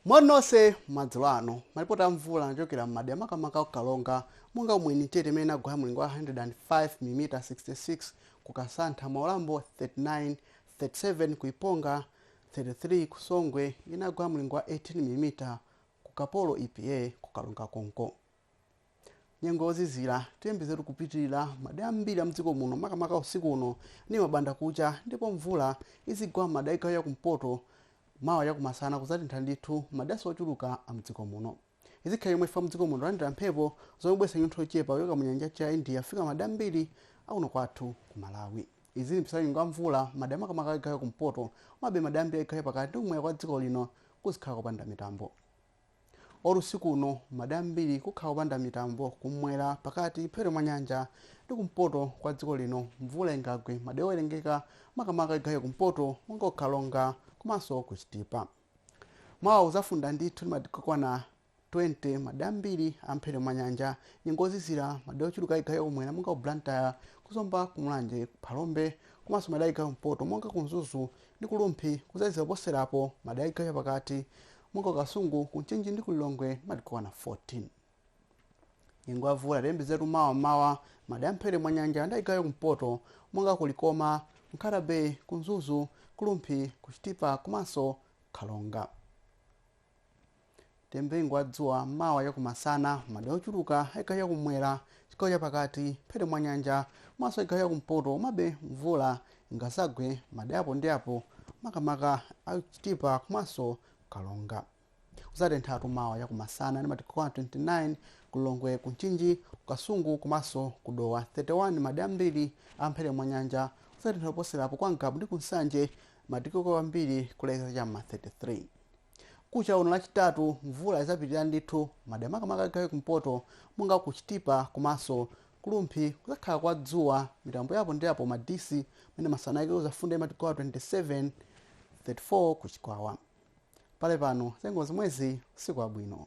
moni nonse madzulo ano malipoti a mvula anachokera m'madera makamaka ku karonga monga ku mwenitete imene inagwa mlingo wa 105 mm 66 ku kasantha mwaulambo 39 37 ku iponga 33 ku songwe inagwa mlingo wa 18 mm ku kaporo epa ku karonga konko nyengo yozizira tiyembekezetu kupitirira madera ambiri a mdziko muno makamaka usiku uno ndi m'mbandakucha ndipo mvula izigwa m'madera a chigawo cha kumpoto mawa chakumasana kuzatentha ndithu madera ochuluka a mdziko muno izikhala chomwechi chifukwa mdziko muno tilandira mphepo zomwe zibweretsa chinyontho chochepa kuchoka mu nyanja ya india kufika madera ambiri akuno kwathu ku malawi izi ndi mpisala nyengo ya mvula madera makamaka a chigawo cha kumpoto komabe madera ambiri a chigawo cha pakati ndi kumwera kwa dziko lino kuzikhala kopanda mitambo or usiku uno madera ambiri kukhala kopanda mitambo kumwera pakati mphepete mwa nyanja ndi kumpoto kwa dziko lino mvula ingagwe madera owerengeka makamaka a chigawo cha kumpoto monga ku karonga komanso ku chitipa mawa kuzafunda ndithu ndi madigiri okwana 20 madera ambiri a mphepete mwa nyanja nyengo yozizira madera ochuluka a chigawo cha kumwera monga ku blantyre ku zomba ku mulanje ku phalombe komanso madera a chigawo cha kumpoto monga ku mzuzu ndi ku Rumphi kudzazizira koposerapo madera a chigawo chapakati monga ku Kasungu, ku Mchinji ndi ku Lilongwe ndi madigiri okwana 14. Nyengo ya mvula tiyembekezetu mawa m'mawa m'madera a mphepete mwa nyanja ndi a chigawo cha kumpoto monga ku Likoma, Nkhata Bay, ku Mzuzu, ku Rumphi, ku Chitipa komanso Karonga. Tiyembekeze nyengo ya dzuwa mawa chakumasana madera ochuluka a chigawo chakumwera chigawo chapakati mphepete mwa nyanja komanso a chigawo chakumpoto komabe mvula ingazagwe madera apo ndi apo makamaka a chitipa komanso karonga kuzatenthatu mawa chakumasana ndi madigiri okwana 29 ku lilongwe ku mchinji ku kasungu komanso ku dowa 31 madera ambiri a mphepete mwa nyanja kuzatentha kuposerapo kwa ngabu ndi ku nsanje madigiri okwera kwambiri kulekeza cha m'ma 33 Mkucha uno lachitatu mvula izapitilira ndithu madera makamaka a chigawo cha kumpoto monga ku Chitipa komanso Ku Rumphi kuzakhala kwa dzuwa mitambo ya apo ndi apo Madisi kumene masana ake kuzafunde madigiri okwana 27, 34 ku Chikwawa pakali pano zanyengo zomwezi usiku wabwino.